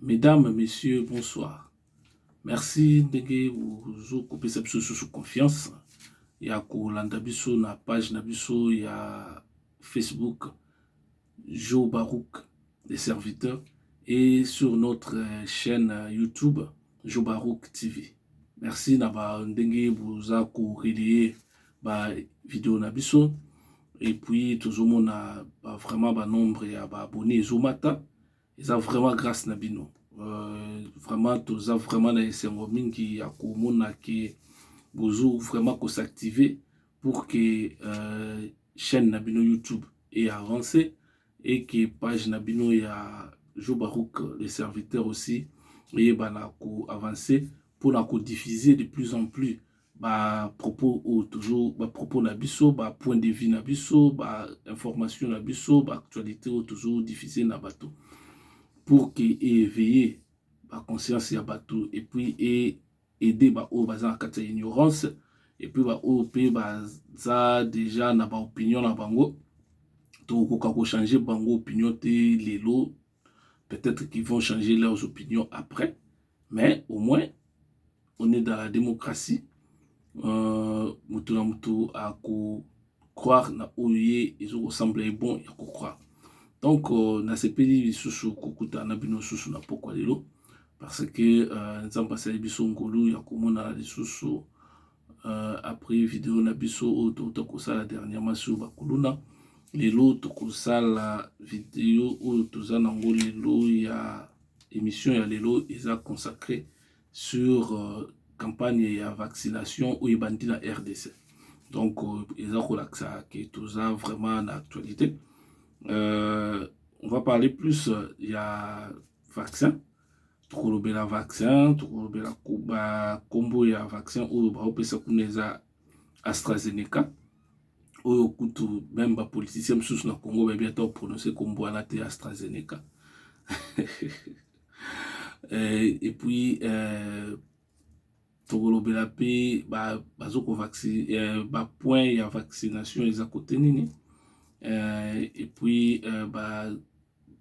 Mesdames et messieurs, bonsoir. Merci ndenge bozo kopesa biso lisusu confiance ya kolanda biso na page na biso ya Facebook Jo Barouk les serviteurs et sur notre chaîne YouTube Jo Barouk TV. Merci na ba ndenge boza ko relayer ba video na biso et puis tozomona ba vraiment ba nombre ya ba abonnés ezomata eza vraiment grâce na bino euh, vraiment toza vraiment na esengo mingi ya komona ke bozo vraiment ko s'activer pour que euh, chaîne na bino YouTube et avancer et que page na bino ya Joe Baruch le serviteur aussi eyebana ko avancer mpo na ko diffuser de plus en plus ba propos oyo tozo ba propos na biso ba point de vue na biso ba information na biso ba actualité oyo tozo diffuser na bato pour que éveiller ba conscience ya bato et puis e aider ba oyo baza na kati ya ignorance et puis ba oyo pe baza deja na ba opinion na bango tokokoka ko changer bango opinion te lelo peut-être qu'ils vont changer leurs opinions après mais au moins on est dans la démocratie euh, mutu na mutu ako croire na oyo ye ezokosemble ye bon ya kocroire donc euh, nasepeli lisusu kokutana na bino lisusu na pokwa lelo parce que euh, nzambe asali biso ngolu ya komonana lisusu euh, après video na biso oyo touta kosala dernièrement sur bakuluna lelo tokosala video oyo toza nango lelo ya émission ya lelo eza consacré sur euh, campagne ya vaccination oyo ebandi na rdc donc euh, eza kolakisa ke toza vraiment na actualité euh, on va parler plus euh, ya vaccin tokolobela vaccin tokolobela bakombo ya vaccin oyo baopesa kuna eza astrazeneca oyo kutu meme bapoliticien mosusu na congo bayebi ata oprononce kombo wana te astrazeneca euh, et puis euh, tokolobela mpe bazo kovaccine euh, bapoint ya vaccination eza kote nini euh, et puis euh, ba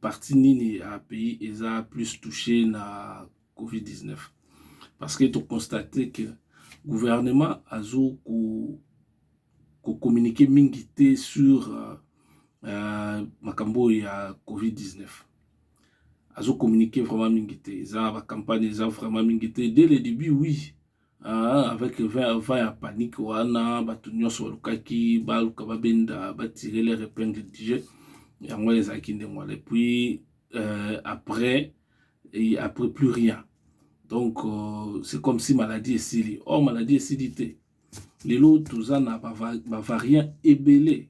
parti nini ya pays eza plus touché na covid-19 parce que tokonstate que gouvernement azo ko kocommunike mingi te sur uh, makambo oyo ya covid-19 azo communiquer vraiment mingi te eza ba campagne eza vraiment mingi te dès le début oui ah, avec 20 20 ya panique wana bato nyonso balukaki baluka babenda batire leur épingle du jeu yango wana ezalaki ndenge wana epuis euh, après et après plus rien donc euh, c'est comme si maladie esili or oh, maladie esili te lelo toza na bavariant ebele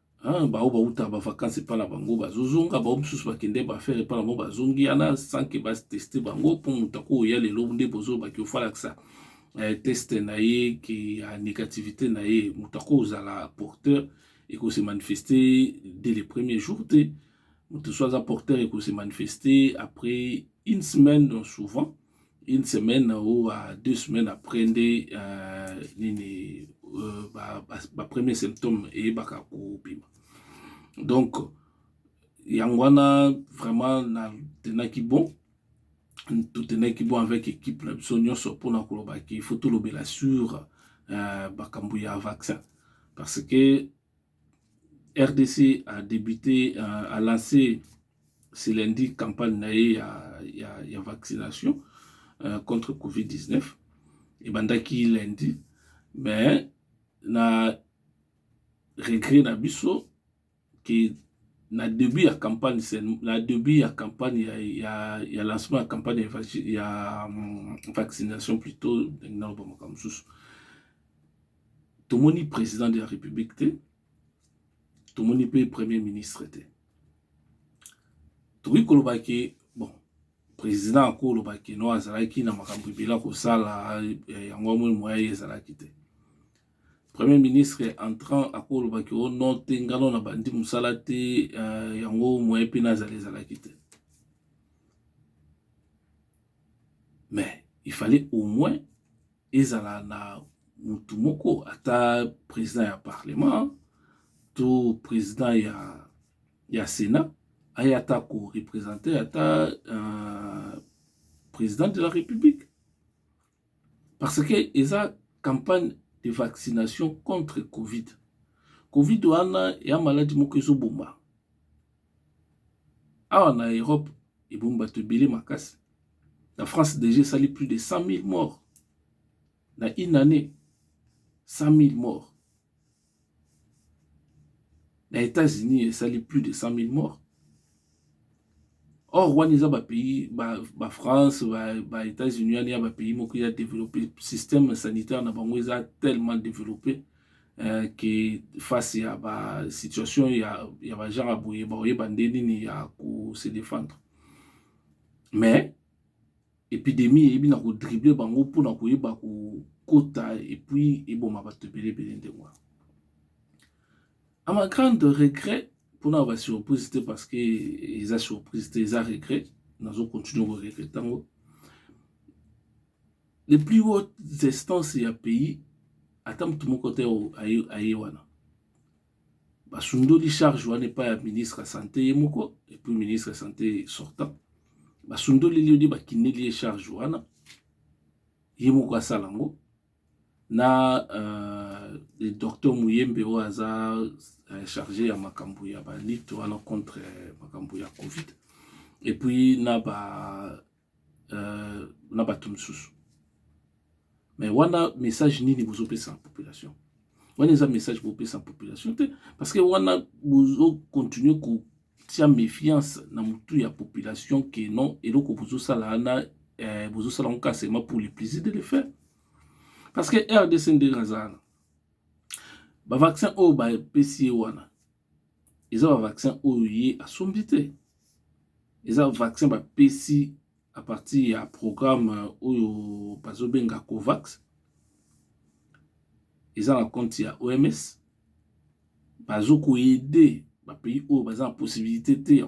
Hein, bao bauta ba vacances epa na bango bazozonga bao mosusu bakende bafere epa na bango bazongi ana sans ke bateste bango mpo moto akoya lelo nde bozolobaki ofalakisa eh, teste na ye ke ya négativité na ye moto akozala porteur ekose manifeste dès le premier jour te moto so aza porteur ekose manifeste après une semaine donc souvent une semaine ou uh, deux semaines après nde uh, nini uh, ba, ba, ba premier symptome eyebaka kobima donc yango wana vraiment na tenaki bon totenaki bon avec équipe na biso nyonso mpona koloba ke il faut tolobela sur uh, bakambo ya vaccin parce que rdc a débuté uh, a lancé ce lundi campagne na ye ya, ya, ya vaccination euh, contre covid-19 ebandaki lundi mais na regret na biso ke na début ya campagne na début ya campagne ya, ya, ya lancement ya campagne ya, ya um, vaccination plutôt ndenge na loba makambo mosusu tomoni président de la république te tomoni mpe premier ministre te tokoki koloba ke bon président akoloba ke no azalaki na makambo ebele akosala eh, yango amoni moya ye ezalaki te premier ministre entrant akoloba ke o oh, no te ngano na bandi mosala te eh, yango moya mpe nazala ezalaki te mais il fallait au moins ezala na mutu moko ata president ya parlement to president ya, ya senat aya ata ko representer ata uh, president de la république parce que eza campagne de vaccination contre covid covid wana ya maladi moko ezoboma awa na Europe ebomi bato ebele makasi na France deja esali plus de 100.000 morts na une année 100.000 morts na États-Unis esali plus de 100.000 morts or wana eza bapays bafrance ba, ba, ba états-unis wana ya bapays moko ya développé système sanitaire na bango eza tellement développé eh, ke face ya ba situation ya, ya ba genre boye bakoyeba nde nini ya ko se défendre mais epidemie eyebi na kodrible bango mpo na koyeba kokota epuis eboma bato ebele ebele ndenge wana a ma grande regret mpona ba surprise te parce que eza surprise te eza regret nazo continue koregrete yango Les plus hautes instances ya pays ata moto moko te aye wana basundoli charge wana epai ya ministre ya sante ye moko epuis ministre ya sante sortant basundoli liyo nde bakindeli ye charge wana ye moko asala yango na uh, le docteur muyembe oyo aza uh, charge ya makambo ya balite wana contre makambo ya covid epuis na ba euh, na bato mosusu mais wana message nini bozopesa na population wana eza message bopesa na population te parce que wana bozocontinue kotia méfiance na motu ya population ke non eloko bozosala wana eh, bozosala ngo kasema pour le plaisir de le faire parce que rdc ndenge azalana bavaccin oyo bapesi ye wana eza ba vaccin oyo ye asombi te eza vaccin bapesi à partir ya programme oyo bazobenga covax eza na compte ya oms bazo koyede bapays oyo baza na possibilité te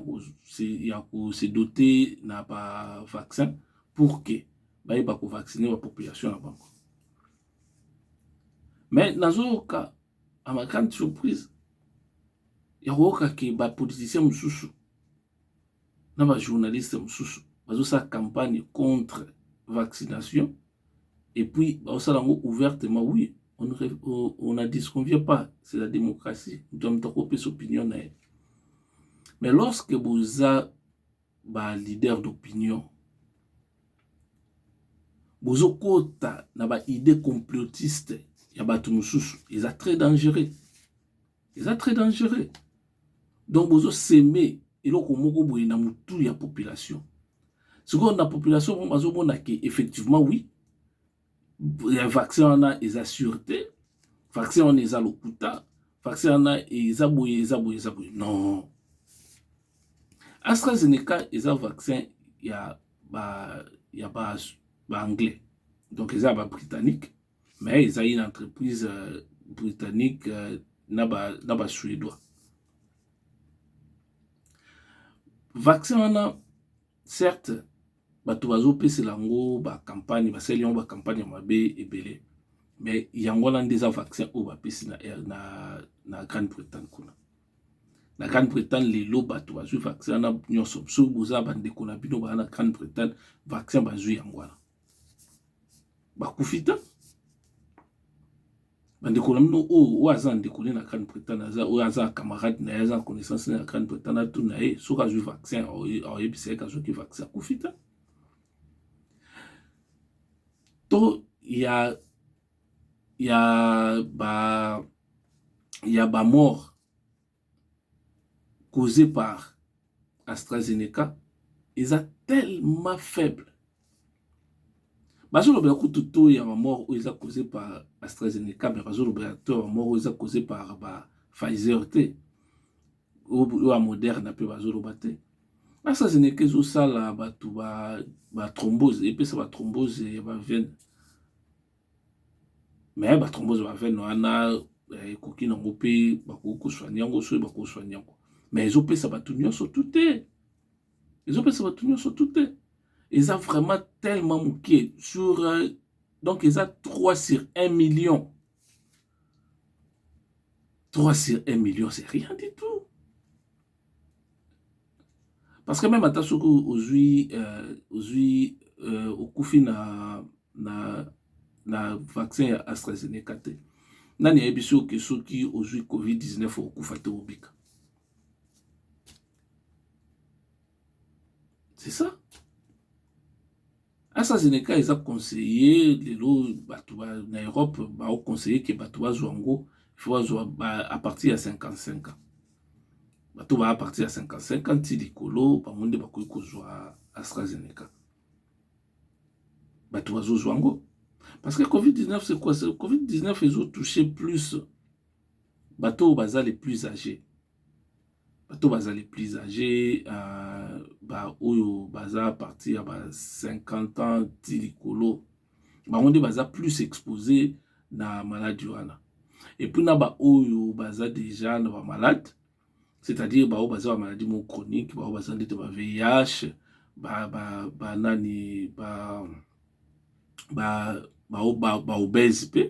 ya kose dote na ba vaccin pour que bayeba kovaccine ba population na bango mais nazoyoka à ma grande surprise ya koyoka ke ba politicien mosusu na ba journaliste mosusu bazosala campagne contre vaccination et puis baosala yango ouvertement oui on, on, on a disconvient pas c'est la démocratie moto ya moto akopesa opinion na ye mais lorsque boza ba leader d'opinion bozokota na ba idée complotiste ya bato mosusu eza très dangereux eza très dangereux donc bozoseme eloko moko boye na motu ya population sikoyo na population moko bazomona ke effectivement oui ya vaccin wana eza sur te vaccin wana eza lokuta vaccin wana eza boye eza boye eza boye non astrazeneca eza vaccin ya ba ya ba baanglais donc eza ba britannique mais eza une entreprise euh, britannique euh, na ba na ba suédois vaccin wana Certes, bato bazo pesela yango ba campagne, ba saleli yango ba campagne ya mabe ebele. Mais yango wana nde eza vaccin oyo ba pesi na, na, na Grande Bretagne kuna. Na Grande Bretagne lelo bato bazwi vaccin wana nyonso. Soki boza ba ndeko na bino ba na Grande Bretagne, vaccin bazwi yango wana. bakufi te bandeko na bino oyo oyo aza ndeko ne na grande bretagne aza oyo aza camarade na ye aza connaissance ne na grande bretagne atuni na ye soki azwi vaccin ayebisa ye kazwaki vaccin akufi te to ya ya ba ya bamort cause par AstraZeneca eza tellement faible bazolobela kutu taux ya bamort oyo eza cause par AstraZeneca mais bazolobela taux ya bamort oyo eza cause par ba Pfizer te oyo ya Moderna mpe bazoloba te AstraZeneca ezosala bato ba ba thrombose epesa ba thrombose ya ba veine mais ba thrombose ba veine wana ekoki nango mpe bakoki koswani yango soki bakoswani yango mais ezopesa bato nyonso tu te ezopesa bato nyonso tu te eza vraiment tellement moke sur euh, donc eza 3 sur 1 million 3 sur 1 million c'est rien du tout parce que meme ata soki ozwi euh, ozwi euh, okufi na na na vaccin ya astrazeneca te nani ayebi soki oke soki ozwi covid-19 okufa te obika c'est ça astrazeneca eza conseiller lelo bato ba, na europe baoconseille ke bato bazwa yango ifo bazwa a partir ya 55 ans bato baa partir ya 55 ans ti likolo bango nde bakoki kozwa astrazeneca bato bazozwa yango parce que covid-19 c'est quoi covid-19 ezotouche plus bato oyo baza le plus age bato bazali plus age uh, baoyo baza parti ya ba 50 ans ti likolo bango nde baza plus expose na maladi wana epuis na baoyo baza deja na bamalade c'est-à-dire baoyo baza bamaladi mo chronique baoyo baza ndete ba vih banani ba, ba, ba, ba, ba, ba, ba, ba, ba, ba, ba, ba ba ba ba, ba obese mpe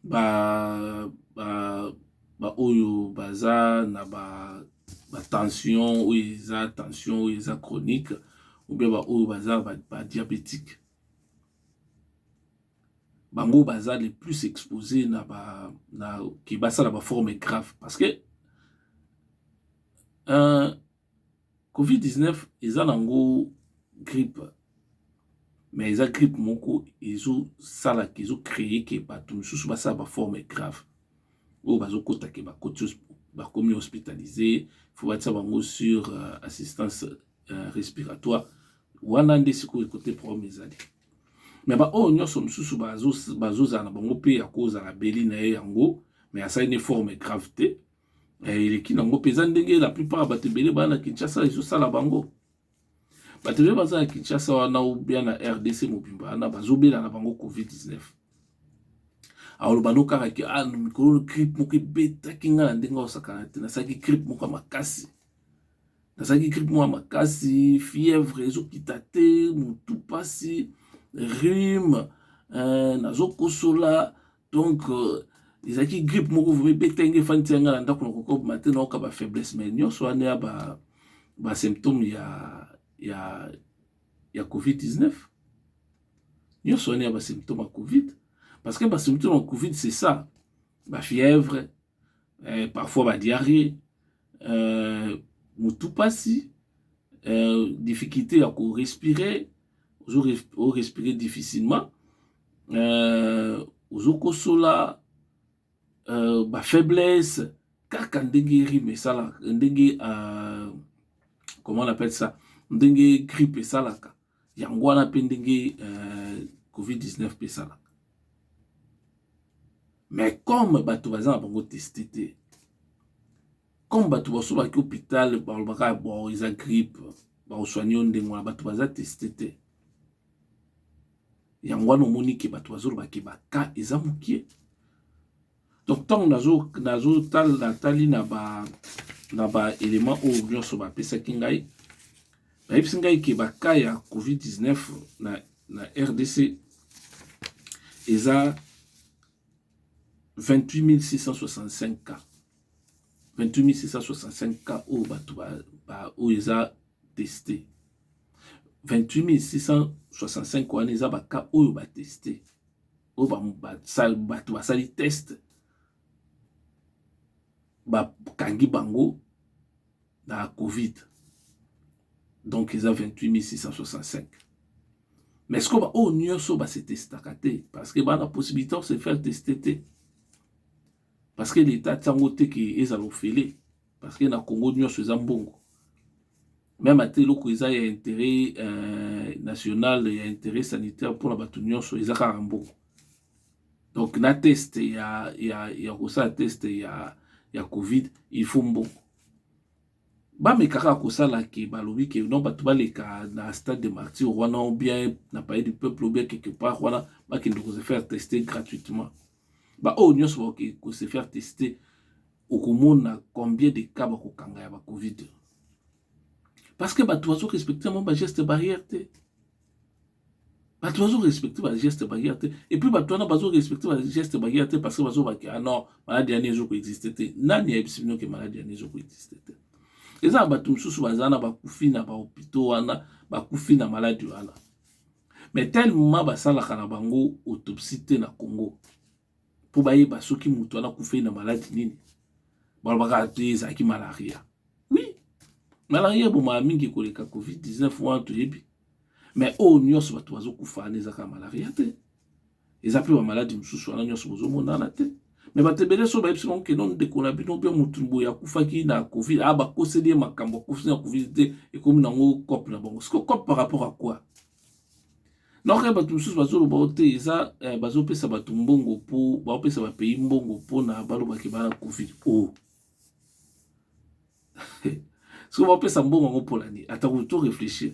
ba ba ba oyo baza na ba ba tension oyo eza tension oyo eza chronique ou bien ba oyo baza ba diabetique bango baza le plus expose na ba na ke basala ba forme grave parce que un Covid-19 eza nango grippe mais eza grippe moko ezosala ke ezo cree ke bato mosusu basala baforme grave oyo bazokota ke bakoti bakomi hospitalise fo batisa bango sur euh, assistance euh, respiratoire wana nde sikoyo kote problème ezali me baoyo nyonso mosusu bazozala na bango mpe ya kozala beli na ye yango me asali ne forme grave te eh, eleki nango mpenza ndenge la plupart ya bato ebele baa na kinshasa ezosala bango bato ebele baza na kinshasa wana obia na rdc mobimba wana bazobela na bango covid-19 aoloba no kaka ke ah, mikolo gripe moko ebetaki ngai na ndenge aosakana te nasalaki gripe moko ya makasi nazalaki gripe mwa makasi fièvre ezokita te motu mpasi rime euh, nazokosola donc euh, ezalaki euh, grippe moko vraimen ebeta nge efandi tia ngai na ndako na kokobima te nayoka ba faiblesse mais nyonso wana ya ba, ba symptome ya, ya, ya covid 19 nyonso wana ya ba symptome ya covid parce que ba symptome ya covid c'est ça ba fièvre eh, parfois ba diarrhée euh, mutu pasi euh, difficulté ya ko respirer ozo o respirer difficilement euh, ozo kosola euh, ba faiblesse kaka ndenge rime esalaka ndenge euh, comment on appelle ça ndenge grippe esalaka Yango wana mpe ndenge euh, covid-19 mpe esalaka mais comme bato baza na bango teste te comme bato baso baki hôpital balobaka bo eza grippe bakosoigne yo ndenge wana bato baza teste te yango wana omoni ke bato bazoloba ke baka eza mokie donc ntango nazotali na ba na ba element oyo nyonso bapesaki ngai bayebisi ngai ke baka ya covid-19 na, na rdc eza 28665 cas 28665 cas oyo bato oyo eza teste 28665 wana eza baka oyo bateste oyo bato basali test bakangi bango na covid donc eza 28665 mais sikoyo baoyo nyonso base testaka te parce que bana possibilité ya se faire teste te parce que leta atyango te ke ezala ofele parce que na Congo nionso eza mbongo meme ata eloko eza ya interet euh, national ya interet sanitaire mpona bato nyonso eza kaka mbongo donc na test ya, ya, ya kosala test ya, ya covid il faut mbongo bameka kaka kosala ke balobi ke non bato baleka na stade de martyr wana ou bien na palais du peuple ou bien quelque part wana bakende koze faire tester gratuitement baoyo nyonso bakoki ko se faire tester okomona combien de cas bakokanga ya bacovid parce que bato bazo respecte yango bageste barrière te bato bazo respecte bageste barrière te epuis bato wana bazo respecte bageste barrière te parce que bazobaki ah non maladi yani ezo koexiste te nani ayebisi bino ke maladi yani ezo koexiste te eza na bato mosusu baza na bakufi na bahopitaux wana bakufi na maladi wana Mais tellement basalaka na bango autopsie te na Congo mpo bayeba soki moto wana akufeli na maladi nini, balobaka te ezalaki malaria. Oui, malaria ebomaka mingi koleka covid-19 wana toyebi, mais oyo nyonso bato bazokufa wana ezaka malaria te. eza pe ba maladi mosusu wana nyonso bozomonana te me bato ebele so bayebisi bango keno ndeko na bino mpe motu boye akufaki na covid a ah, bakoseli ye makambo akufi na covid te ekomi nango cope na bango siko cope par rapport à quoi naoka bato mosusu bazoloba o te eza eh, bazopesa bato mbongo mpo baopesa bapays mbongo mpo na balobaki bana covid o oh. soki baopesa mbongo yango mpo na nini atako to réfléchir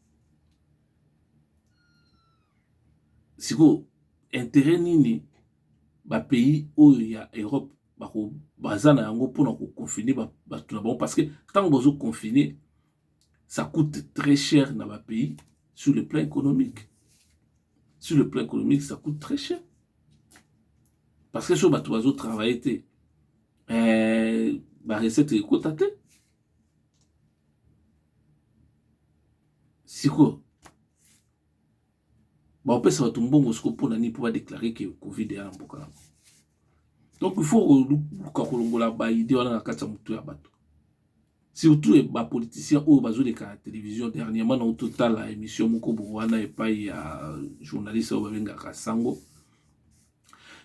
sikoyo interet nini bapays oyo ya europe baza na yango mpona koconfine bato na bango parce que ntango bazo confine ça coûte très cher na bapays sur le plan économique sur le plan économique ça coûte très cher parce que so bato bazo travaille te eh, barecette ekota te sikoyo baopesa bato mbongo sikoyo mpo na nini mpo badeklare ke covid eya na mboka yango donc il faut koluka kolongola baide wana na kati ya motu ya bato surtout eh, bapoliticien oyo bazoleka na télévision dernièrement na ototala émission moko bo wana epai ya journaliste oyo babengaka sango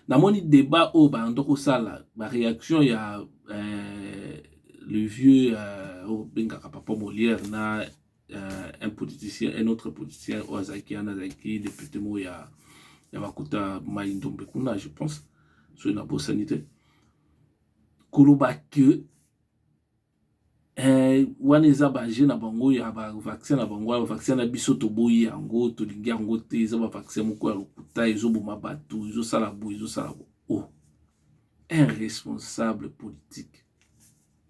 Namoni debat oyo bando kosala ba reaction ya euh, le vieux euh, oyo bengaka papa Molière na euh, un politicien un autre politicien oyo azalaki wana azalaki depute moko ya ya bakuta mai ndombe kuna je pense soki nabosani te koloba que Eh, wana eza ba jeu na bango ya ba vaccin na bango ba vaccin na biso toboyi yango tolingi yango te eza ba vaccin moko ya lokuta ezoboma bato ezosala boye ezosala bo oh un responsable politique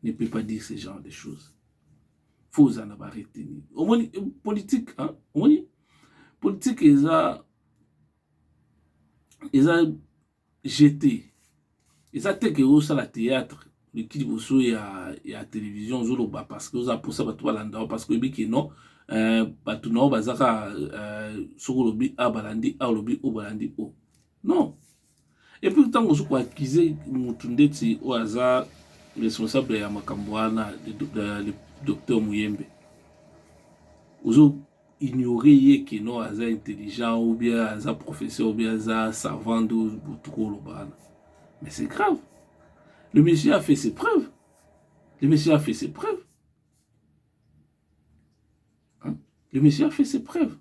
ne peut pas dire ce genre de choses fo ozala na ba reteni omoni euh, politique hein? omoni politique eza eza jete eza te ke osala théâtre oleki liboso ya, ya télévision ozoloba parce que oza mposa bato balanda yo parce que oyebi ke non euh, bato na yo baza kaka euh, soki olobi a balandi a olobi o balandi o non epuis ntango ozo koakize motu ndeti oyo aza responsable ya makambo wana docteur moyembe ozo ignorer ye que non aza intelligent ou bien aza professeur ou bien aza savant nde otuka oloba wana mais c'est grave le monsieur a fait ses preuves le monsieur a fait ses preuves hein? le monsieur a fait ses preuves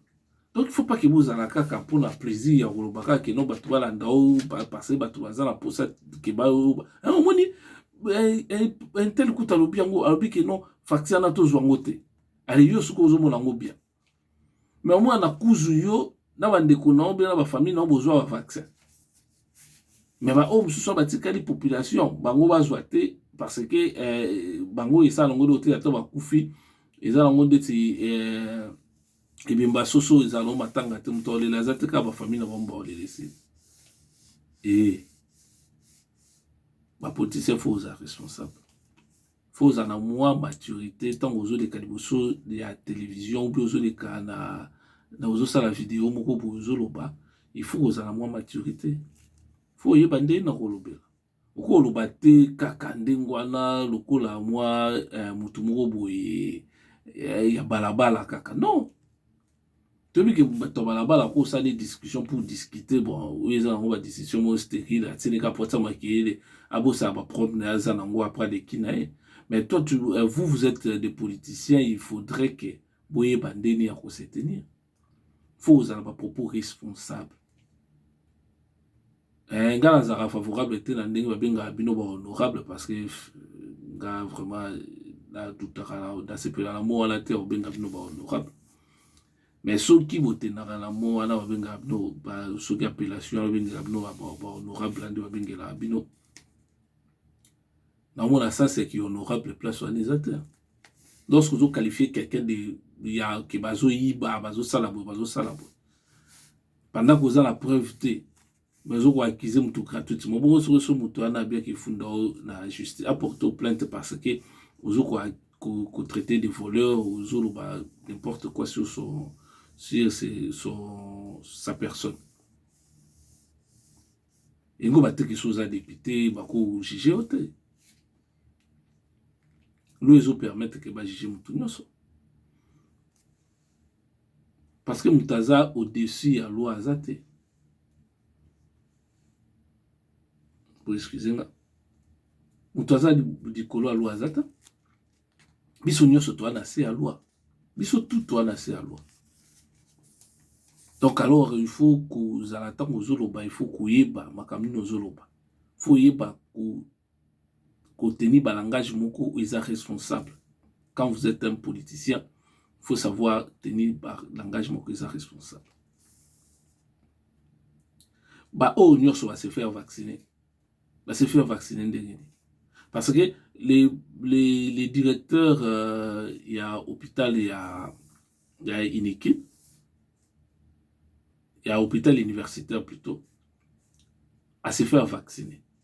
donc il faut pas que bozala kaka mpona plaisir ya koloba kaka keno bato balanda o parce bato baza na posa ke bayo omoni intel kuta alobi yango alobi keno facture na tozwa yango te ale yo suka ozomona yango bien me omona na kuzu yo na bandeko na yo bena bafamille na yo bozwa bavaccin me baoyo mosusu batikali population bango bazwa te parce que eh, bango esala yango dote ata bakufi eza yango ndeti eh, ebemba soso ezala yango matanga te moto aolela aza te kaka bafamille na bango baolela esili e eh, bapoliticien fo oza responsable faut ozala na mwa maturité ntango ozoleka liboso ya television ou bien ozoleka na, na ozosala video moko boye ozoloba il faut kozala mwa maturité faut oyeba nde na kolobela okoloba te kaka ndenge wana lokola mwa eh, motu moko boye eh, ya balabala kaka non toyebi ke bato ya balabala ko osali discussion pour discuter bon oyo eza nango ba discussion moko stérile atindi ka posa makeyele abosana ba problème na ye aza nango apres aleki na ye mais toi tu, euh, vous vous êtes des politiciens il faudrait que boyeba ndeni ya ko se tenir faut ozala ba propos responsable Eh, nga nazalaka favorable te na ndenge babengaka bino ba honorable parce que nga vraiment nadutaka nasepela na mo wana te ya kobenga bino ba honorable mais soki botendaka na mo wana babengaka bino soki appellation wana babengaka bino ba honorable nde babengelaka bino namona sens ya ki honorable place wana eza te lorsque ozoqualifie quelqu'un de ya ke bazoyiba bazosala boye bazosala boye Pendant que oza na preuve te, mais ozo ko accuser mutu gratuitement. Bongo soki so mutu wana abiaki efunda oyo na justice, apporte plainte parce que ozo ko ko, ko traiter de voleur, ozo loba n'importe quoi sur son sur ses, son sa personne. Engo ba teki so oza député, ba ko juger yo te. Loi ezo permettre que ba juger mutu nyonso. parce que moto aza au dessus ya loi aza te bo excuse nga moto aza likolo ya loi aza te biso nyonso toa na se ya loi biso tout toa na se ya loi donc alors il faut kozala ntango ozoloba il faut koyeba makambo nini ozoloba faut oyeba ko tenir ba langage moko oyo eza responsable quand vous etes un politicien il faut savoir tenir ba langage moko eza responsable ba oyo nyonso ba se faire vacciner ba se faire vacciner ndenge nini parce que les, les, les directeurs euh, ya hôpital ya ya iniki ya hôpital universitaire plutôt à se faire vacciner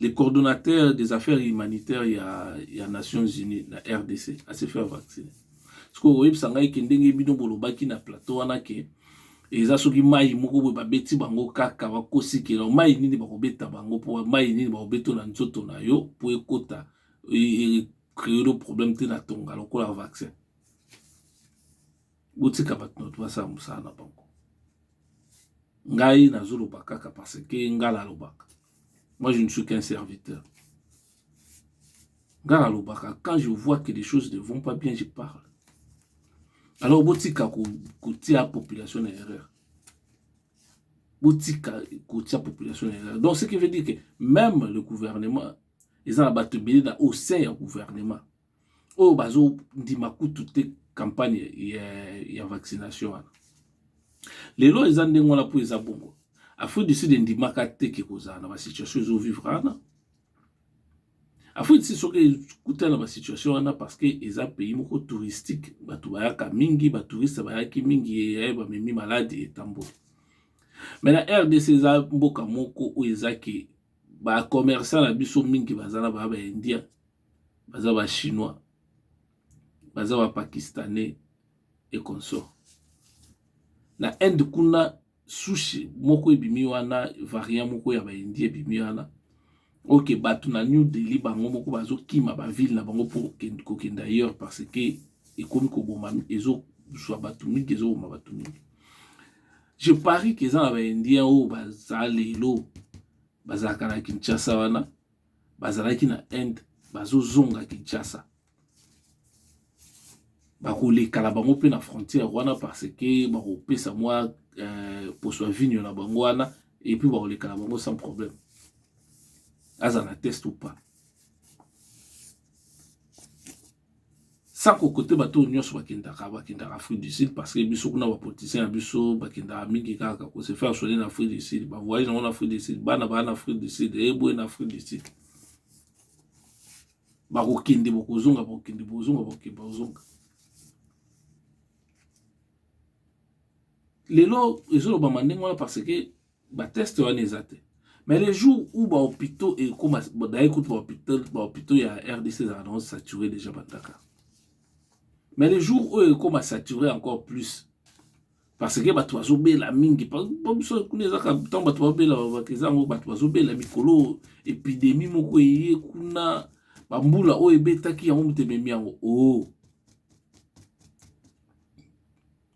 le coordonnateur des affaires humanitaires ya, ya Nations Unies na RDC à se faire vacciner. Sikoyo oyebisa ngai ke ndenge bino bolobaki na plateau wana ke eza soki mai moko boye babeti bango kaka bakosikela mai nini bakobeta bango mpo mai nini bakobetola nzoto na yo mpo ekota e, e, e, créer problème te na tonga lokola vaccin botika bato na bato basala mosala na bango ngai nazoloba kaka parce que ngai nalobaka moi je ne suis qu'un serviteur ngai nalobaka quand je vois que les choses ne vont pas bien je parle alors botika kotia ko population na erreur botika kotia population na erreur donc ce qui veut dire que même le gouvernement eza na bato ebele na au sein ya gouvernement oyo bazo ndima kutu te campagne ya, ya vaccination wana lelo eza ndenge wana mpo eza bongo afrique du sud endimaka te ke kozala na basituation ezovivre wana afrique du sud soki ekutana na basituation wana parce que eza pays moko touristique bato bayaka mingi batouriste bayaki mingi eyaye bamemi maladi etamboli mai na rdc eza mboka moko oyo ezaki bacommerçant na biso mingi baza na baya baindia baza ba chinois baza ba pakistanais et consort na inde kuna sushi moko ebimi wana variant moko ya baindi ebimi wana oke bato na new delhi bango moko bazokima bavile na bango mpo kokenda ailleurs parce que ekomi koboma ezozwa bato mingi ezoboma bato mingi je parie ke eza na baindien oyo baza lelo bazalaka na kinshasa wana bazalaki na Inde bazozonga Kinshasa bakolekala bango mpe na frontière wana parce que bakopesa mwa euh, poso ya vigno na bango wana epuis bakolekala bango sans problème aza na test ou pas sans kokote bato oyo nyonso bakendaka bakendaka afrique du sud parce que biso kuna bapoliticien ya biso bakendaka mingi kaka kose faire soigner na afrique du sud bavoyage yango na afrique du sud bana baa na afrique du sud eyeboye na afrique du sud bakokende bokozonga bokende bozonga bokende bozonga lelo ezolobama ndenge wana parce que ba teste wana eza te mais le jour où ba hôpitaux ekoma d'ailleurs kutu ba hôpitaux ba hôpitaux ya RDC ezalaka nango saturé déjà bataka mais le jour oyo ekoma saturé encore plus parce que bato bazobela mingi biso kuna ezaka ntango bato babela babaka eza yango bato bazobela mikolo epidemie moko eye kuna bambula oyo ebetaki yango moto ememi yango o oh.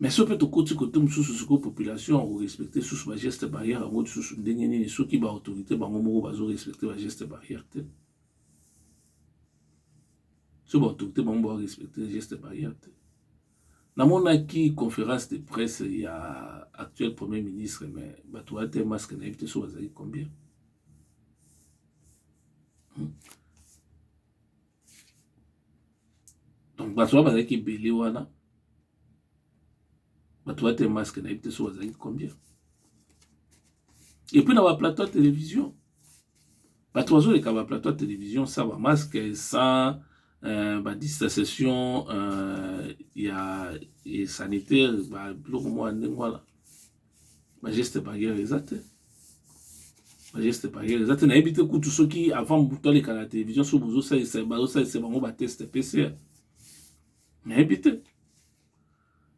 mais soki mpe tokoti kote mosusu sikoyo population ya korespecte susu bageste barrière yango lisusu ndenge nini soki baautorité bango moko bazorespecte bageste barrière te soki baautorité bango barespecte geste barrière te namonaki conférence de presse ya actuel premier ministre mais bato baya te masque nayebi te so bazali combien hmm? donc bato wana bazalaki ebele wana bato bate maske nayebi te so bazalaki combien epuis na baplateau ya télévision bato bazoleka baplateau ya télévision sa bamaske sans Euh, badistanciation euh, ya sanitaire biloko mwa ndenge wana ba geste barrière eza te ba geste barrière eza te nayebi te kutu soki avant mobutu aleka na télévision soki bozosalisa bazosalisa bango bateste pcr nayebi te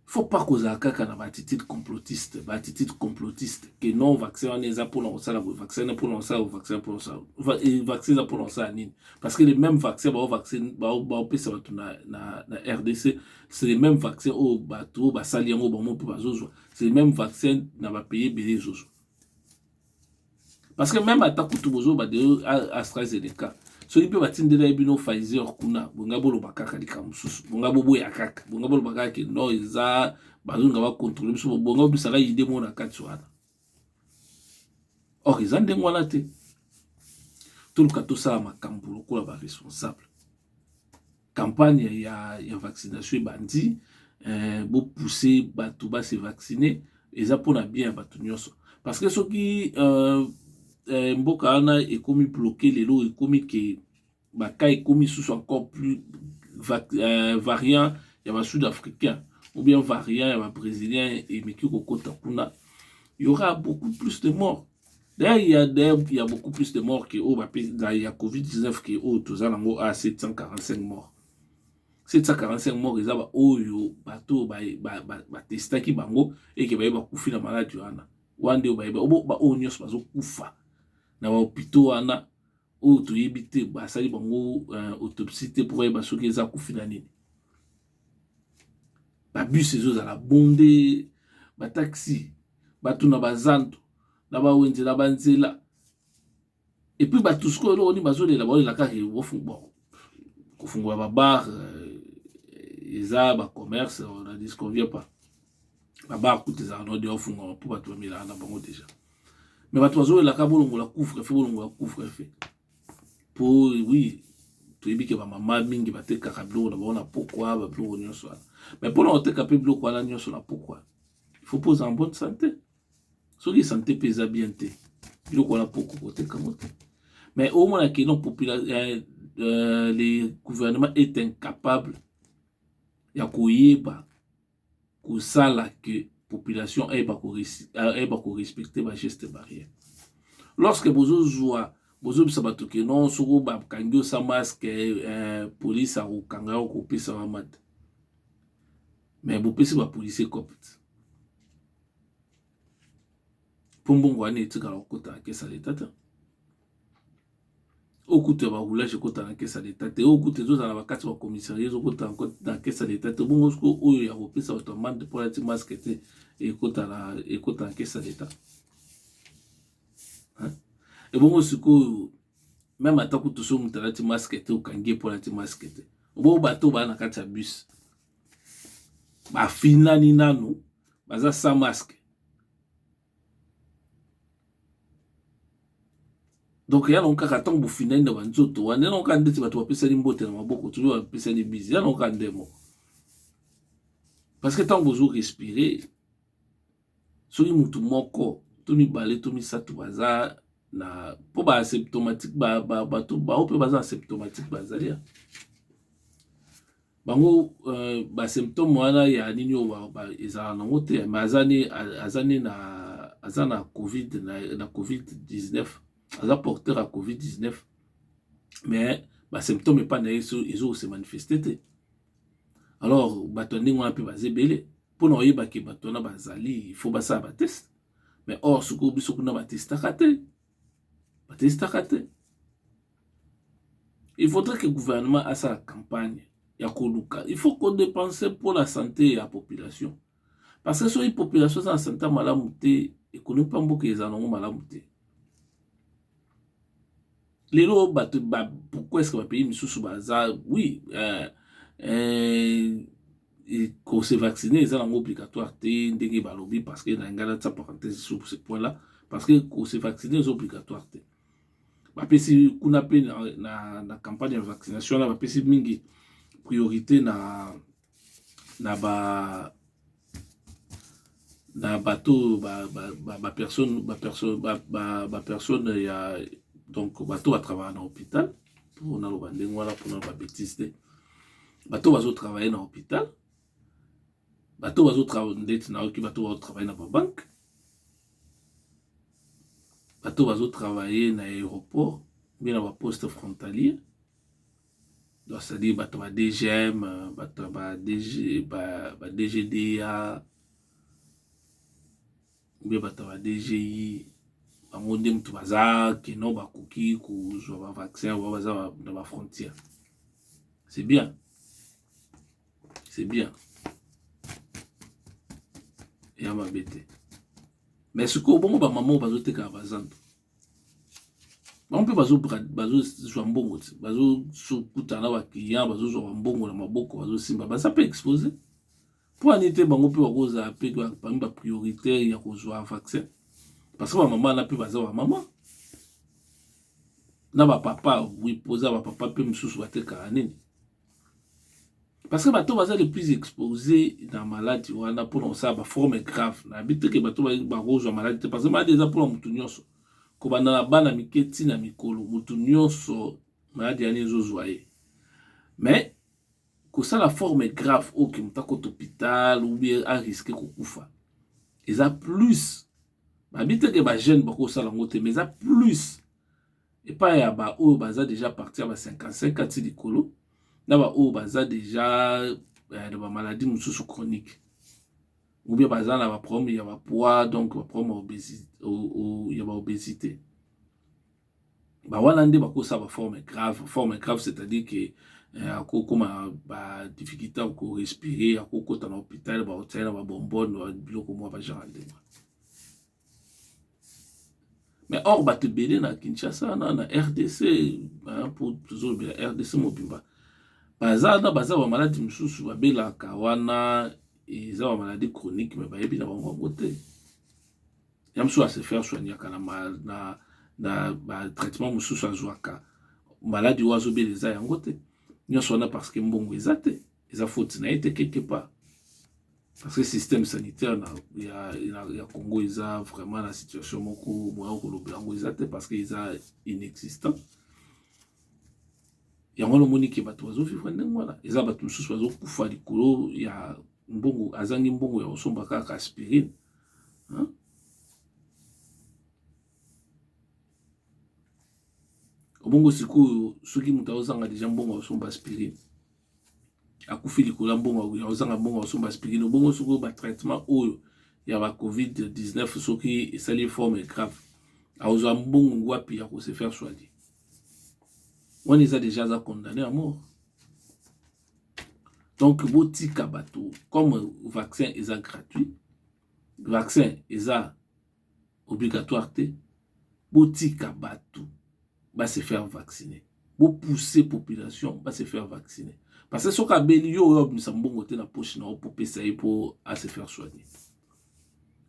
faut pas kozala kaka na baatitude complotiste baatitude complotiste ke non vaccin wana eza mpona kosala boye vaccin wana mpona kosala vaccin mpona kosala vaccin eza mpona kosala nini parce que le même vaccin bao vaccin baopesa bato na, na, na rdc c'est le même vaccin oyo bato oyo basali yango bango mpe bazozwa c'est même vaccin na ba pays ebele ezozo parce que même ata kutu bozoba de AstraZeneca soki mpe batindela ye bino Pfizer kuna bonga boloba kaka likambo mosusu bonga boboya kaka bonga boloba kaka ke non eza bazonga bakontrole biso bonga obisaka ide moko na kati wana or eza ndenge wana te toluka tosala makambo lokola baresponsable campagne ya, ya vaccination ebandi eh, bopousse bato ba se vacciner eza mpo na bien ya bato nyonso parce que soki euh, eh, mboka wana ekomi bloke lelo ekomi ke baka ekomi susu encore plus va, eh, variant ya ba sud africain ou bien variant ya ba brésilien emeki kokota kuna il y aura beaucoup plus de morts D'ailleurs, il y a d'ailleurs, il y a beaucoup plus de morts que oh, il y a Covid-19 que oh, tous en haut à 745 morts. 745 morts, ils ont oyo, bateau, ba, ba, ba, ba testa ki bango, et que ba, ba koufi la malade, wana. Wande, ba, ba, ba, ba, onyos, ba, zo koufa. Na ba hôpitaux, wana, oyo toyebi te basali bango uh, autopsie te mpo bayeba soki eza kufi na nini babus ezozala bonde bataxi bato na bazando na bawenze na banzela epuis bato sikoyo eloko nini bazolela baolela kaka kofungola babar euh, eza bacommerce on ne disconvient pas babar kutu ezalaka nao deya ofungwaka mpo bato bamelaka na bango deja me bato bazowelaka bolongola couvre fe bolongola couvre fe mpo wi toyebi ke bamama mingi batekaka biloko na bango na pokwa babiloko nyonso wana me mpo na koteka mpe biloko wana nyonso na pokwa faut mpo ozala bonne sante soki sante mpe eza bien te biloko wana poko koteka yango te mais omona ke non euh, euh, le gouvernement est incapable ya koyeba kosala que population ayeba ko ayeba ko respecter ba gestes barrières lorsque bozo zua bozo bisa bato que non soko bakangi osa masque eh, police akokanga yo kopesa wa mata mais bopesi ba policier copte mpo mbongo wana etikala kokota na kesa leta te oyo kutu ya baroulage ekota na kesa leta te oyo kutu ezozala bakati bacommissariat ezokota na kesa leta te bongo siko oyo ya kopesa bato ya mande mpo alati maske te ekota na kesa leta ebongo sikoyo meme ata kutu soki moto alati maske te okangi ye mpo alati maske te obongo bato baa na kati ya bus bafinani nanu baza sans maske donc ya nango kaka ntango bofindani na banzoto wana ya nango kaka ndeti bato bapesani mbote na maboko tozo bapesani bizi ya nango kaka nde moko parce que ntango bozo respire soki motu moko to mibale to misato baza na mpo ba asymptomatique bato bao mpe baza asymptomatique bazali bango euh, ba symptôme wana ya nini oyo ezala nango te mais aza ni aza ni na aza na covid na, na covid 19 aza porteur ya covid 19 mais ba symptôme epai na ye ezo se manifeste te alors bato ya ndenge wana mpe baza ebele mpo na oyeba ke bato wana bazali il faut basala bateste mais or sikoyo biso kuna batestaka te batestaka te il faudrait que gouvernement asala campagne ya koluka il faut kodepense mpo na sante ya population parce que soki population eza na sante ya malamu te ekonomi mpa mboka ezala nango malamu te lelo bato pourquoi eske bapays misusu baza oui euh, euh, ko se vacciner eza nango obligatoire te ndenge balobi parce que na ngala tsa parenthèse sur ce point là parce que ko se vacciner eza obligatoire te bapesi kuna mpe na, na, na campagne ya vaccination wana bapesi mingi priorité na na ba na bato ba, ba, ba, ba personne ba personne ba, ba, ba personne ya donc bato batravaya na hôpital mpo naloba ndenge wana mpo naloba betise te bato bazo travailler na hôpital bato bazo travailler ndeti na oki bato bazo travailler na ba banque bato bazo travailler na aéroport mpe na ba poste frontalier donc c'est à dire bato ba dgm bato ba dg ba, ba dgda Oubien bato ya ba DGI bango nde moto baza keno bakoki kozwa ba vaccin oyo baza na ba frontière c'est bien c'est bien eya mabe te mais sikoyo bongo bamama oyo bazotekaka bazando bango mpe bazozwa mbongo te bazokutana na baclient bazozwa bambongo na maboko bazosimba baza mpe expose Mpo ya nini te bango mpe bakozala mpe parmi ba prioritaire ya kozwa vaccin parce que bamama wana mpe baza bamama na bapapa wi mpoza bapapa mpe mosusu batekaka nini parce que bato baza le plus expose na maladi wana mpona kosala baforme grave nayebi teke bato bakozwa maladi te parce que maladi eza mpona motu nyonso kobanda na bana mike ntina mikolo motu nyonso maladi yani ezozwa ye mais Kosala forme grave oyo ke moto akota hopital ou bien a risque kokufa eza plus babi te ke ba jeune bakosala yango te mais eza plus epai ya baoyo baza deja parti ya ba 55 ati likolo na baoyo baza deja eh, na bamaladi mosusu chronique ou bien baza na baproblème ya bapoids donc baproblème ya baobésité ba wana nde bakosa ba forme grave forme grave c'est à dire que eh, akokoma ba difficulté ya korespire akokota na hôpital baotia na babombone biloko mwa bagenre ndenge mais or bato ebele na kinshasa na na rdc po tozolobela rdc mobimba baza na baza bamaladi mosusu babelaka wana eza bamaladi chronique me bayebi na bango yango te ya mosusu ase faire soignaka na, na, na batraitement mosusu azwaka maladi oyo azobela eza yango te nyonso wana parce que mbongo eza te eza faute na ye te quelque part parce que système sanitaire na, ya, ya, ya congo eza vraiment na situation moko moya kolobela yango eza te parce que eza inexistant yango wana omoni ke bato bazovivre ndenge wana eza bato mosusu bazokufa likolo ya mbongo azangi mbongo ya kosomba kaka aspirine Hein? Obongo sikoyo soki moto aozanga deja mbongo aosomba aspirine akufi likolo ya mbongo aozanga mbongo aosomba aspirine obongo sikoyo batraitement oyo ya ba covid-19 soki esali forme grave aozwa mbongo wapi ya kose faire soigner wana eza deja aza condamne ya mort donc botika bato comme vaccin eza gratuit vaccin eza obligatoire te botika bato ba se faire vacciner bopousse population ba se faire vacciner parce que soki abeli yo oyo abimisa mbongo te na poche na yo popesa ye po a se faire soigner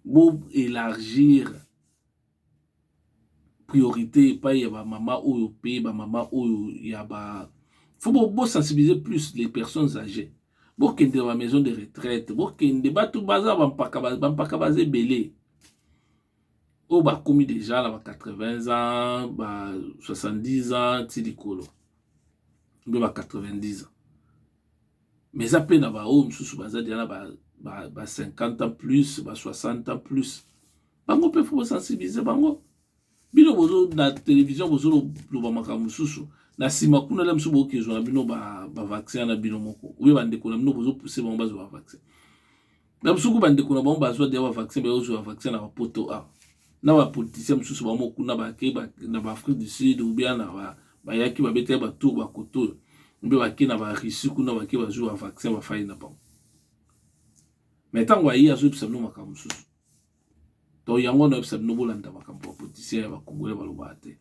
bo élargir priorite epai ya ba mama oyo pe ba mama oyo ya ba faut bo sensibiliser plus les personnes agees bokende na ba maison de retraite bokende batu baza ba mpaka ba mpaka baza ebele oyo bakomi deja na ba 80 ans ba 70 ans ti likolo mpe ba 90 ans mais eza mpe na baoyo mosusu baza deja na ba ba 50 ans plus ba 60 ans plus bango mpe fo bosensibilize bango bino bozo na televizio bozoloba makambo mosusu na nsima kuna la mosusu bokezwa na bino bavaccin ba na bino moko oyo bandeko na bino bozopuse bango bazwa bavaccin na mosuku bandeko na bango bazwa deya bavaccin bayozwa bavaccin na bapoto a na bapoliticien mosusu bango kuna bake na baafrique du sud obia na bayaki babetaki batour bakoto oyo mpe bake na barussie kuna bake bazwi bavaccin bafai na bango me ntango aye azoyebisa bino makambo mosusu Donc yango na yebisa bino bolanda makambo ba politicien ya ba congolais balobaka te.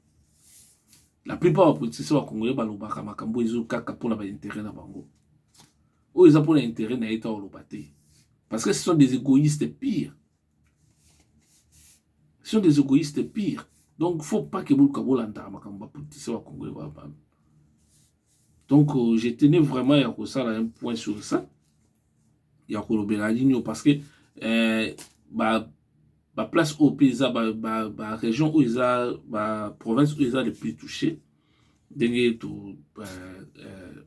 La plupart ba politicien ba congolais balobaka makambo ezo kaka pona ba intérêt na bango. Oyo eza pona intérêt na ye ta oloba te. Parce que ce sont des égoïstes pires. Ce sont des égoïstes pires. Donc faut pas que boluka bolanda makambo ba politicien ba congolais ba ba. Donc euh, je tenais vraiment ya kosala un point sur ça. ya kolobela nini oyo parce que eh, ba ba place oyo mpe eza ba, ba, ba région oyo eza ba province oyo eza le plus touché ndenge to euh, euh,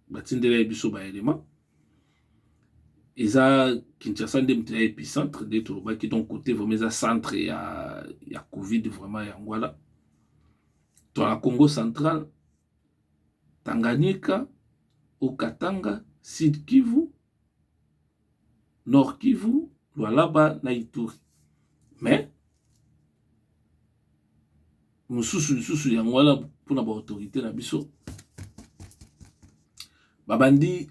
batindelaki biso ba élément eza kinshasa nde moto ya épicentre nde tolobaki donc côté vraiment eza centre ya, ya covid vraiment yango wana to na congo central Tanganyika, Haut-Katanga, Sud-Kivu, Nord-Kivu, Lualaba na Ituri. Mais mosusu lisusu yango wana mpo na baautorité na biso babandi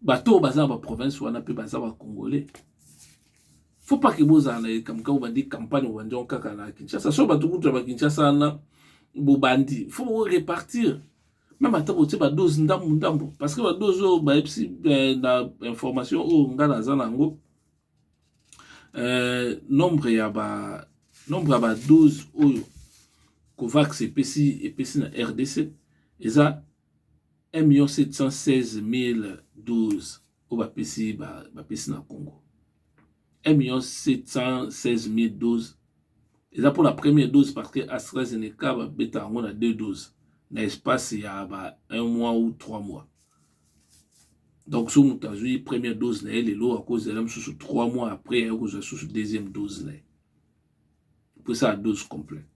bato oyo baza na baprovince wana mpe baza bacongolais faut pas ke bozala na likambo kaka obandi campagne obandi yango kaka na kinshasa so bato kutu ya bakinshasa wana bobandi faut borepartir meme ata botie badose ndambo ndambo parce que badose oyo bayebisi eh, na information oyo ngai naza na yango eh, nombre ya ba nombre ya badose oyo covax epesi epesi na rdc eza 1716012 oyo bapesi bapesi na congo 1716012 eza mpona première dose parce que astrazeneca babeta yango na 2 dose na espace ya ba 1 mois ou 3 mois donc so moto azwi première dose na ye lelo akozela mosusu 3 mois après aye kozwa susu deuxième dose na ye mpo esala dose complète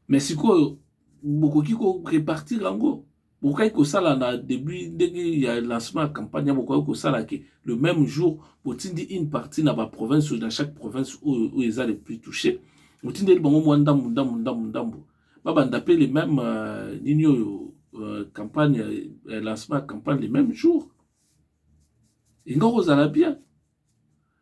Mais sikoyo bokoki ko repartir yango bokokaki kosala na debut ndenge ya lancement ya campagne ya bokokaki kosala ke le même jour botindi une partie na baprovince oyo na chaque province oyo oyo eza le plus touché botindeli bango mwa ndambu ndambu ndambu ndambu babanda mpe le même euh, nini oyo euh, campagne euh, lancement ya campagne le même jour ingakozala bien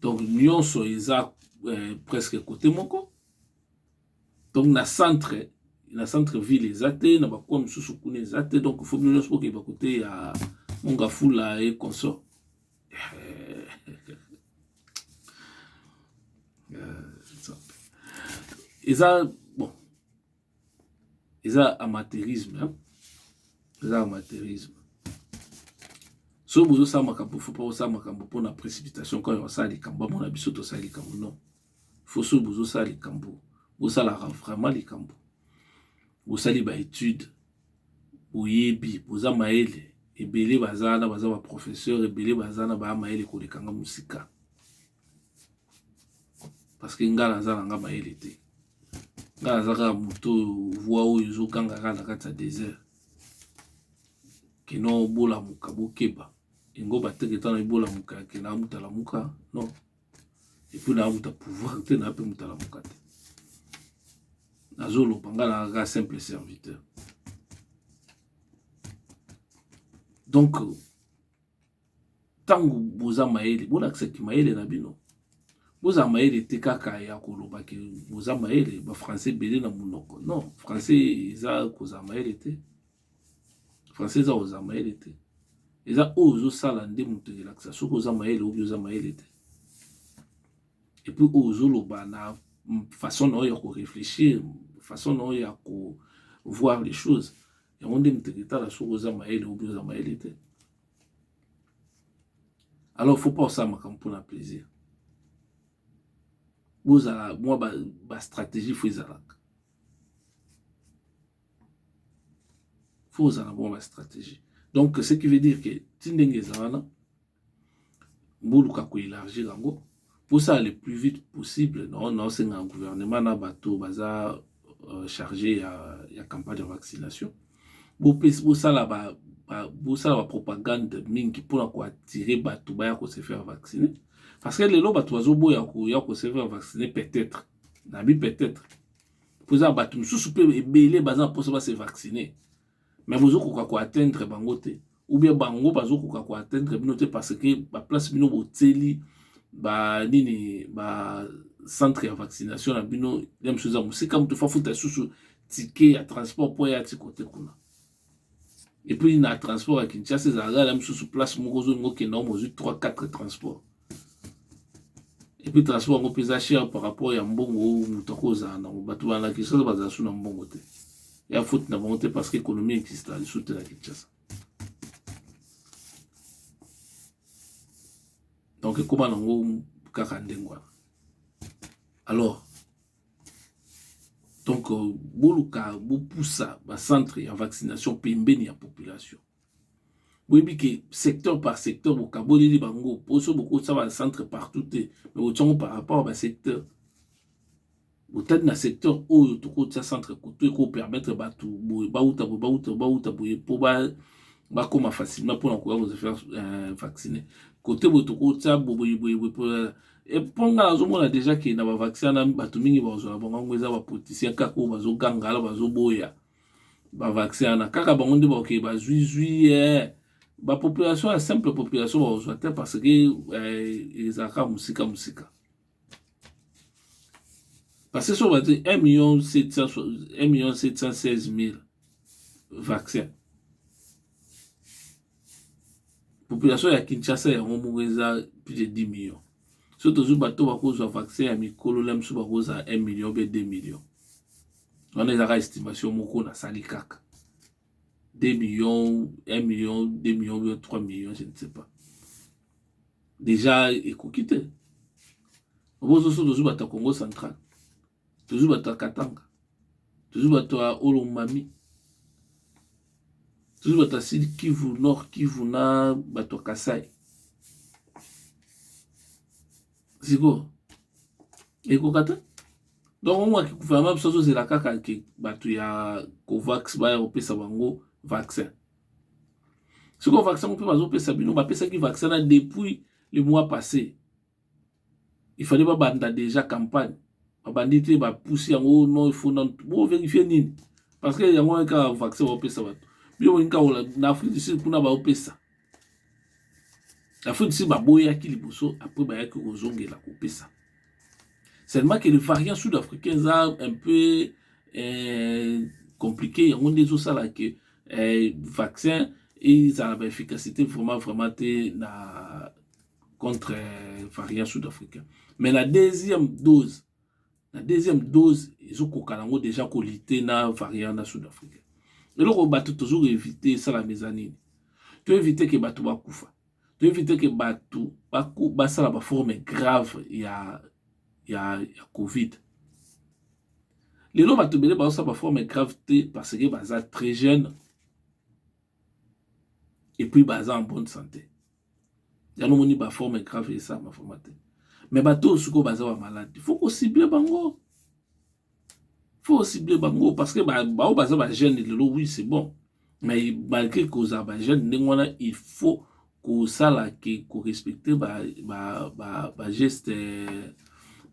donc nyonso eza eh, presque kote moko donc na centre na centre ville eza te na bakoa mosusu kuna eza te donc fo bino nyonso bokeba kote ya mongafula e consort eh, eh, eza bon eza amateurisme hein? eza amateurisme soki bozosala makambo fo mpo osala makambo mpo na précipitation kaka osala likambo amona biso tosala likambo non fo soki bozosala likambo bosalaka vraiment likambo bosali baetude boyebi boza mayele ebele baza wana baza baprofesseur ebele baza na baya mayele kolekanga mosika parceke ngai naza na nga mayele te ngai naza kaka moto oyo voi oyo ezoganga kaka na kati ya desert kino bolamuka bokeba yango bateke tana ebolamuka yake na motalamuka non epui na moto ya pouvoir te na mpe motalamuka te nazoloba ngai na kaka simple serviteur donc ntango boza mayele bolakisa kimayele na bino bozala mayele te kaka ya koloba ke boza mayele bafrançais ebele na monoko non français eza kozala mayele te français eza kozala mayele te eza oyo ozosala nde moto elakisa soki oza mayele obi oza mayele te epuis oyo ozoloba na façon na oyo ya koreflechir façon na oyo ya kovoir les choses yango nde moto eketala soki oza mayele obi oza mayele te alors faut pas osala makambo mpona plaisir bozala mwa bastratégie fo ezalaka fo ozala mwa bastratégie donc ce qui veut dire que ti ndenge eza wana boluka koelargir yango Pousa le plus vite possible non non c'est un gouvernement na bato baza euh, chargé ya, ya campagne de vaccination bopesi bosala ba, ba, bosala ba propagande mingi mpona koattire bato baya ko se faire vacciner parce que lelo bato bazoboya koya ko se faire vacciner peut-être nabi peut-être mpo eza bato mosusu mpe ebele baza na mposa ba se vacciner mais bozo koka ko atteindre bango te ou bien bango bazo koka ko atteindre bino te parce que ba place bino botseli ba nini ba centre ya vaccination na bino ya mosusu eza mosika moto fafuta lisusu tike ya transport mpo ya ti kote kuna epuis na transport ya kinshasa ezalaka na mosusu place moko ozolinga okenda omo ozwi 3 4 transport epuis transport yango mpe eza cher par rapport ya mbongo oyo moto akozala nango bato bana kinshasa bazala su na mbongo te ya faute na bango te parce que économie exista lisusu te na kinshasa donc ekóma nango kaka ndenge wana alors donc euh, boluka bopusa bacentre ya vaccination pembeni ya population boyebi ke secteur par secteur bokaboleli bango poso bokotisa ba centre partout te me botiango par rapport ya basecteur botali na secteur oyo tokotisa centre kutu ekopermettre bato boye bauta boye bauta bauta boye mpo bakoma facilement mpona koya koza faire euh, vaccine kote boye tokotisa boboyeboyeboye mpo epo ngai nazomona deja ke na bavaccin na bato mingi bakozwa na bango yango eza bapoliticien kaka oyo bazogangala bazoboya ba vaccin wana kaka bango nde bakoke bazwi zwi eh. ba population ya simple population bakozwa te parce que eh, ezalaka mosika mosika parce que soki bati 1 million 1 million 716 mille vaccin population ya kinshasa yango moko eza plus de 10 million soki tozwi bato bakozwa vaccin ya mikolo na biso bakozala 1 million mpe 2 million wana ezaka estimation moko nasali kaka 2 millions 1 million 2 millions 3 millions je ne sais pas déjà ekoki te obozoso tozwi bato ya congo central tozwi bato ya katanga tozwi bato ya olomami tozwi bato ya sud kivu nord kivu na bato ya kasai sikoyo ekoka te donc yango aki gouvernement biso azozela kaka ke bato ya covax baya kopesa bango vaccin sikoyo vaccin yango mpe bazopesa bino bapesaki vaccin na depuis le mois passé il fallait babanda déjà campagne babandi te bapusi yango oh non ifo nano boverifie nini parce que yango wana kaka vaccin baopesa bato bino bolingi kaka na afrique du sud kuna baopesa afutisi baboyaki liboso après bayaki kozongela kopesa seulement que le variant sud africain eza un peu eh, compliqué yango nde ezosala ke eh, vaccin ezala ba efficacité vraiment vraiment te na contre eh, variant sud africain mais la deuxième dose na deuxième dose ezokoka nango deja kolite na variant na sud africain eloko bato tozoki evite esalama eza nini toevite ke bato bakufa toevite ke bato basala baforme grave ya, ya, ya covid lelo bato ebele bazosala baforme grave te parce que baza très jeune epuis baza en bonne santé yango moni ba forme grave esama forma te mais bato oyo sikoyo baza ba malade faut ko cible bango faut cible bango parce que baoyo baza ba jeune lelo oui c'est bon mais malgré kozala ba jeune ndenge wana il faut kosala ke korespecte ba, ba, ba, ba geste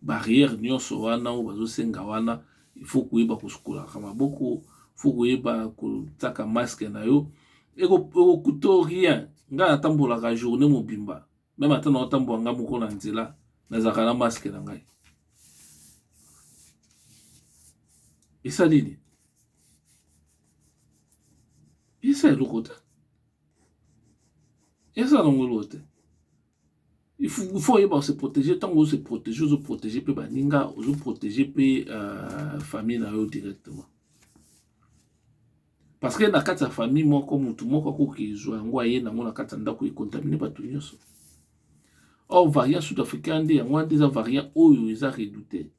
barrière nyonso wana oyo bazosenga wana il faut koyeba kosukolaka maboko faut koyeba kotaka masque na yo ekokuta rien ngai natambolaka journée mobimba meme ata na otambola ngai moko na nzela nazalaka na masque na ngai esali nini esa eloko te esa nango eloko te il faut oyeba se protéger ntango ozo se protéger ozo protéger mpe baninga ozo protéger mpe euh, famille na yo directement parce que na kati ya famille moko motu moko akoki ezwa yango aye nango na kati ya ndako ekontamine bato nyonso or variant sud africain nde yango wana nde eza variant oyo eza redoute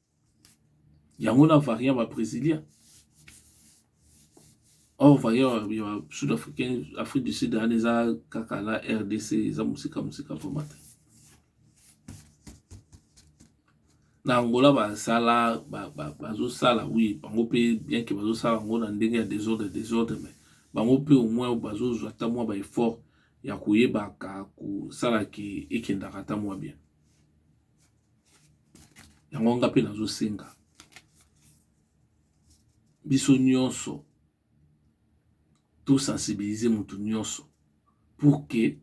yango na variant ba brésiliens or variant ya sud africain afrique du sud wana eza kaka na rdc eza mosika mosika vraimen te na angola basala bazosala wi bango mpe bien ke bazosala yango na ndenge ya desordre desordre mais bango mpe au moins bazozwa ata mwa ba effort ya koyebaka kosala ke ekendaka ata mwa bien yango nga mpe nazosenga biso nyonso tosensibilize motu nyonso pour que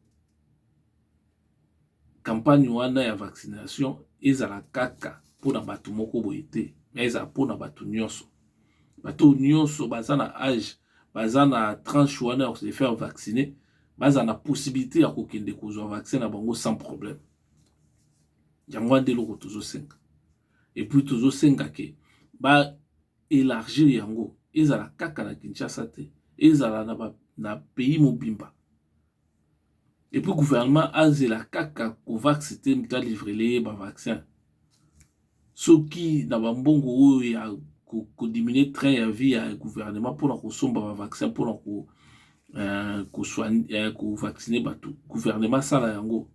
campagne wana ya vaccination ezala kaka mpo na bato moko boye te me ezala mpo na bato nyonso bato nyonso baza na age baza na tranche wana ya se faire vacciner baza na possibilité ya kokende kozwa vaccin na bango sans problème yango wana nde eloko tozosenga epuis tozosenga ke ba élargir yango ezala kaka na kinshasa te ezala na, ba, na pays mobimba epuis gouvernement azela kaka covax te moto alivrele ye bavaccin soki na bambongo oyo ya kodiminue train ya vie ya gouvernement mpona kosomba bavaccin mpona ko, uh, eh, kovaccine eh, bato gouvernement asala yango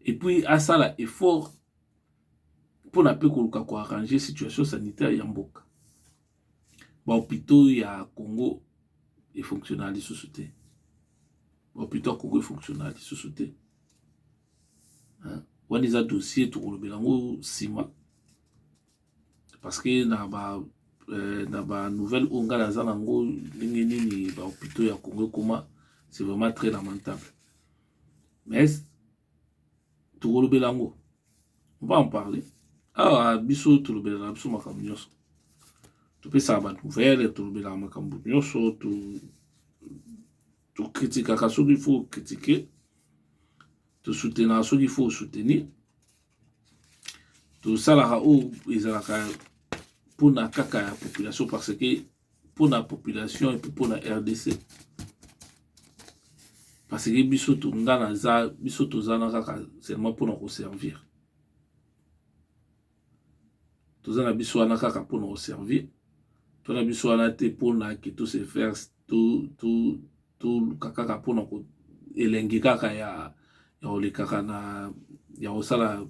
et puis asala effort mpona mpe koluka ko arranger situation sanitaire ya mboka ba hopitaux ya Congo e fonctionna lisusu te ba hopitaux ya Congo e fonctionna lisusu te wana eza dossier tokolobela yango nsima parce que na ba euh, na ba nouvelle oyo ngai naza nango ndenge nini ba hopitaux ya Congo ekoma c'est vraiment très lamentable mais tokolobela yango on va en parler awa biso tolobelaka biso makambo nyonso topesaka bato nouvelle tolobelaka makambo nyonso tokritikaka to soki fo kritike tosoutenaka soki fo soutenir tosalaka oyo ezalaka mpona kaka ya population parce que mpo na population epe mpo na rdc parce que biso nga naza biso toza na kaka seulement mpo na koservir toza na biso wana kaka mpo na koservir to na biso wana te mpo na ke to se faire toluka kaka mpo na elengi kaka ya ya kolekaka na ya kosala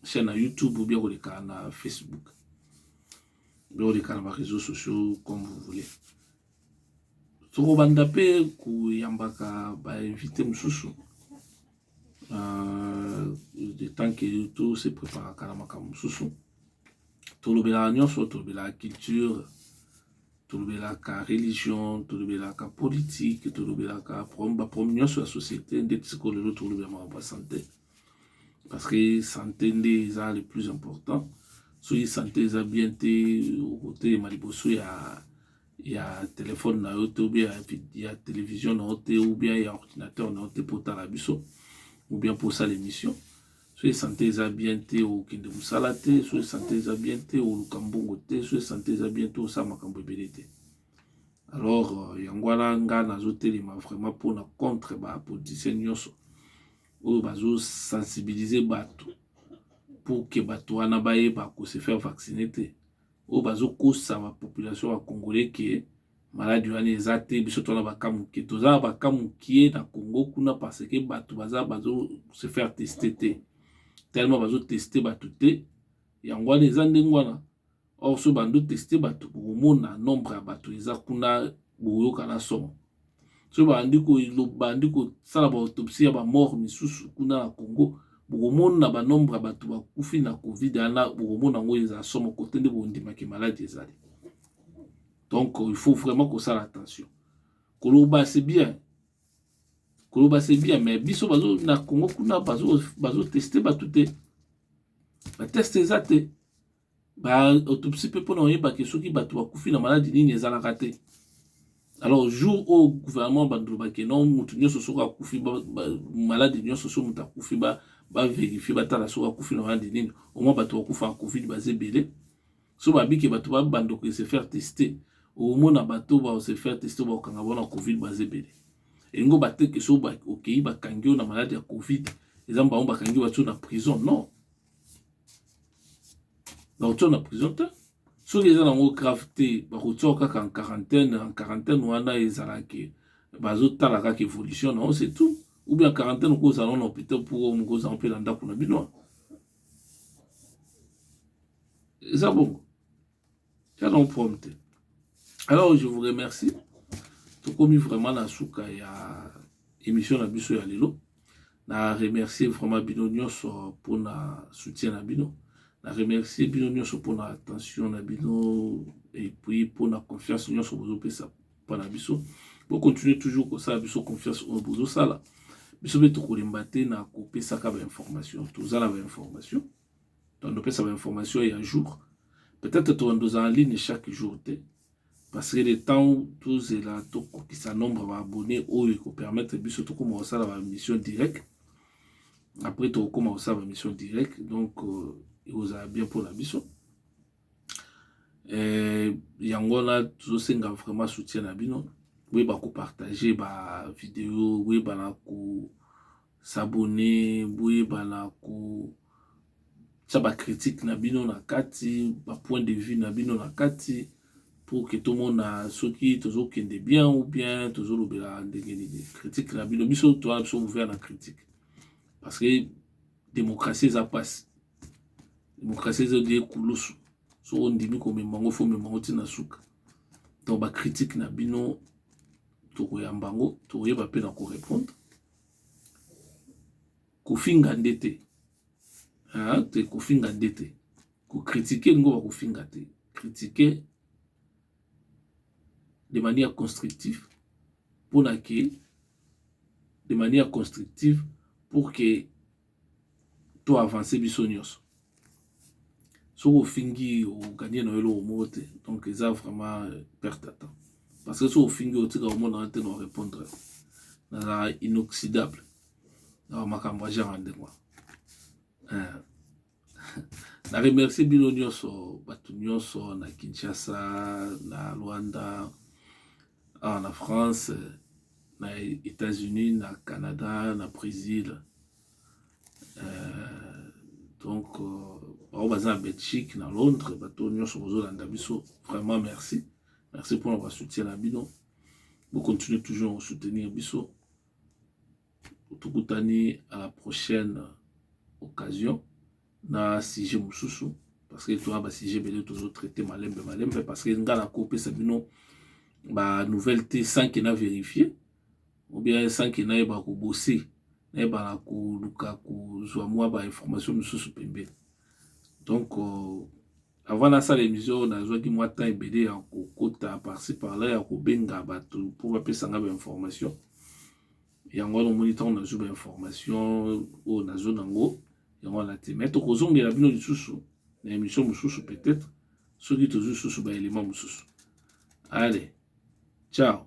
chaîne na YouTube ou bien koleka na Facebook bien koleka na ba réseaux sociaux comme vous voulez tokobanda mpe koyambaka bainvité mosusu euh, de temps que tose préparaka na makambo mosusu tolobelaka nyonso tolobelaka culture tolobelaka religion tolobelaka politique tolobelaka baproblème nyonso ya société ndeti sikoyo lelo tolobela makambo ya santé parce que santé nde eza le plus important soki santé eza bien te okotelema liboso ya ya telefone na yo te oubien ya télévision na yo te oubien ya ordinateur na yo te mpo otala biso oubien mpo osala émission soki santé eza bien te okende mosala te soki santé eza bien te oluka mbongo te soki santé eza bien te osala makambo ebele te alors euh, yango wana nga nazotelema vraiment mpona contre bapoliticien nyonso oyo bazo sensibiliser batu pour que batu wana bayeba ko se faire vacciner te oyo bazo kosa ba population ya congolais que maladi wana eza te biso tona baka moke toza na baka moke na congo kuna parce que bato baza bazo se faire teste te tellement bazo teste bato te yango wana eza ndenge wana or so bando teste bato bokomona nombre ya bato eza kuna bokoyoka na somo so bandi bandi kosala baautompsie ya bamort misusu kuna na congo bokomona banombre ya bato bakufi na covid ana bokomona yango eza somo kote nde bondimaki maladi ezali donc il faut vraiment kosala attention koloba c'est bien koloba c'est bien mais biso bazo na congo kuna bazoteste bato te bateste eza te ba autopsie mpe mpona oyebake soki bato bakufi na maladi nini ezalaka te alors jour oyo gouvernement bandolobake no moto nyonso soki akufi maladi nyonso soki moto akufi baverifie batala soki akufi na maladi nini omwa bato bakufa ya covid baza ebele so babike bato babandoko ese faire tester omona bato baose faire tester bakokanga bona covid baza ebele elingo bateke so okei bakangi yo na maladi ya covid eza mbango bakangi bato na prison non bakotia na prison te soki eza nango grave te bakotia kaka en quarantaine en quarantaine wana ezalaki bazotala kaka évolution na ose tout ou bien quarantaine okozala na hôpital mpo mokozala mpe na ndako na bino eza bongo ya non prom te alors je vous remercie tokomi vraiment na suka ya émission na biso ya lelo na remercier vraiment bino nyonso mpona soutien na bino na remercier bino nyonso mpona attention na bino epuis mpona confiance nyonso bozopesa mpo na biso bocontinue toujours kosala biso confiance oyo bozosala biso mpe tokolemba te na kopesaka bainformation toza na bainformation ba tondo pesa ba information ya jour peut-être tondo za en ligne chaque jour te parce que le temps tozela tokokisa nombre ba abonné oyo ekopermettre biso tokoma kosala ba mission direct après tokokoma kosala ba mission direct donc euh, ekozala bien mpona biso eh, yango wana tozosenga vraiment soutien na bino boyeba kopartage bavideo boyeba na ko s'abonner boyebana kotia ba critique na bino na kati ba point de vue na bino na kati pour que tomona soki tozokende bien ou bien tozolobela ndenge nini critique na bino biso toa na biso ouvert na critique parce que démocratie eza mpasi démocratie eza die kulusu soki ondimi komema yango fo omema yango ntina suka donc bacritique na bino tokoyamba yango tokoyeba mpe na korépondre kofinga nde te te kofinga nde te ko critique ngo ba kofinga te critique de manière constructif mpona ke de manière constructive pour que to avancer biso nyonso soki ofingi oganye na yo eloko moko te donc eza vraiment euh, perte ya temps parce que soki ofingi otika omonana te na orépondre nazalaka inoxydable na bamakambo ya genre ya ndenge wana euh, na remercie bino nyonso bato nyonso na kinshasa na rwanda Awa na France, na Etats-Unis, na Canada, na Bresil, euh, donc bango euh, baza na Belgique, na Londres, bato nyonso bozolanda biso, vraiment merci, merci mpona basoutien na bino, bocontinue toujours kosoutenir biso, tokutani à la prochaine occasion. na sujet mosusu parce que toza ba sujet ebele tozo traite malembe malembe parce que nga nakopesa bino ba nouvelle te sans que na vérifier ou bien sans que nayeba kobose nayeba na koluka kozwa mwa ba information mosusu pembeni donc euh, avant nasala émission nazwaki mwa temps ebele ya kokota parci par là ya kobenga bato mpo bapesa nga bainformation yango wana omoni ntango nazwi ba information oyo nazo nango yango wana te mai tokozongela bino lisusu na émission mosusu peut-être soki tozwi lisusu ba élément mosusu ale ciao